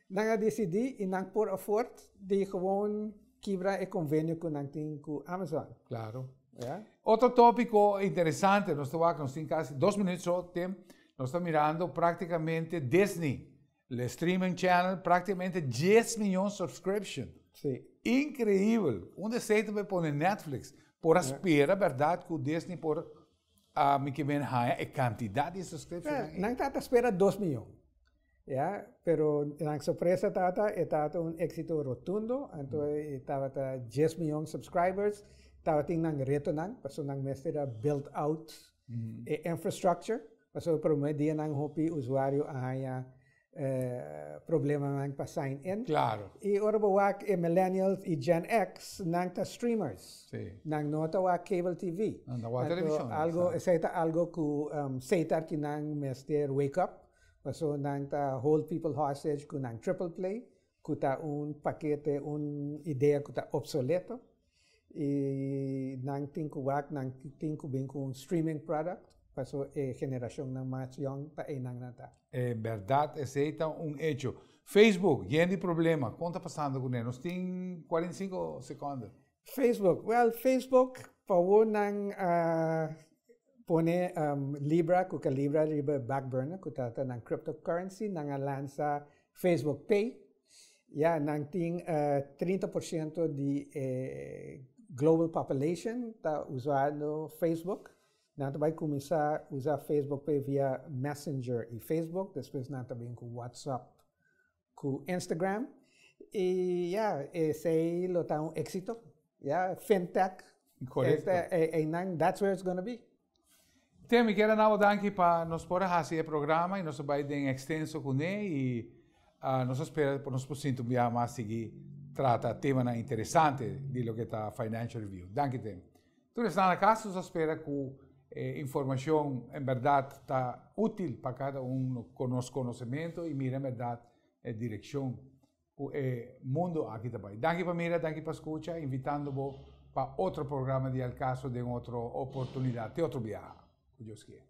nan a disidí i nan por afòrt di gewoon kibra e konvenio ku nan tin ku Amazon. Claro. Ya. Otro tópiko interesante, nos ta wak, nos tin kasi dos minut so temp, nos ta mirando praktikamente Disney. Le streaming channel prácticamente dies miyon subscription. Sí. Increíble. Un deseo te pone Netflix. Por a spera, verdad, cu Disney por a mi que ben haya e cantidad de subscription. Yeah, nan tata spera dos miyon. Ja, pero nan sorpresa tata, e tata un éxito rotundo, anto e tabata dies miyon subscribers, tabatin nan retonan, paso nan mester a build out E infrastructure, pasobra e prome dianan hopi usuario a haña problemanan pa sign in. Claro. I ora bo wak e millennials i Gen X, nan ta streamers. Sí. Nan no ta wak cable TV. Nan ta wak televishon. Algo, esei ta algo ku seitar ki nan mester wake up, pasobra nan ta hold people hostage ku nan triple play. ku ta un pakete, un idea ku ta opsoleto i nan tin ku wak, nan tin ku bin ku un streaming product paso e generashonnan mas yòn ta einan nan ta. E bèrdat esei ta un echo. Facebook, yen di problema, kon ta pasando kuné? Nos tin kuarenta i sinku sekònda. Facebook, well Facebook pawoor nan a pone libra cu calibra riba e back burner cu ta nan crypto currency nan a lansa Facebook pay ya nan tin trinta por ciento di e global population ta usando Facebook nan ta bay cuminsa usa Facebook pay via messenger y Facebook despues nan ta bini cu WhatsApp cu Instagram y ya esey lo ta un exito ya fintech correcto eynan that's where it's gonna be. Te mi kier a nabo danki pa nos por a haci e programa y nos a bay den extenso cune y nos a spera cu nos por sinti un biaha mas sigui trata temanan interesante di loke ta financial review. Danki te. Tur esnan a kas nos a spera ku e informashon en bèrdat ta útil pa kada un ku nos konosementu i mira en bèrdat e direkshon ku e mundu aki ta bai. Danki pa mira, danki pa skucha, invitando bo pa otro programa di El Caso den otro oportunidat, te otro biaha, ku Dios kier.